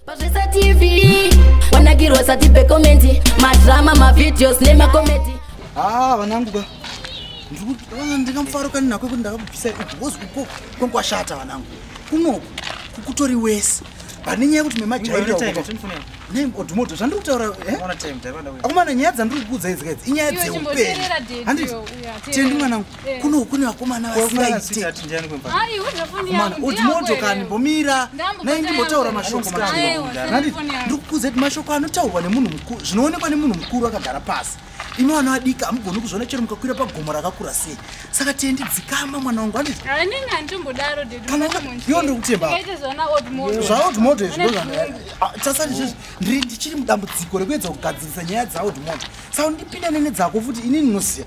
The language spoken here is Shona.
Pazvesa TV wanakirwa sati pekomenti madrama mavideos nemakomedi haa ah, vananguka ndingamufarukani nako kuti ndakabvisa igozi uko kwankwashata vanangu kunoku kukutori wese pane nyaya yekuti memajairaodhumoto zvandiri kutaura eh? akomana nyaya dzandiri kukuudza idzikaidzi inyaya dzeupenyu handiti tendi mwanangu Eh. kuno kune vakomana vasingaitemotokani mbomira nai ndimbotaura mashoko mandi ndikukuza kuti mashoko anotaurwa nemunhu mukuru zvinoonekwa nemunhu mukuru akagara pasi imi vana vadika hamugoni kuzviona chero mukakwira pagomo rakakura sei saka tiendi dzikama mwana wangu andiiyo ndikutembaazvaodmoto izvitasati izvozvi ndiri ndichiri mudambudziko rekuedza kugadzirisa nyaya dzaodmoto saka ndipinda nene dzako futi ini ndinoziva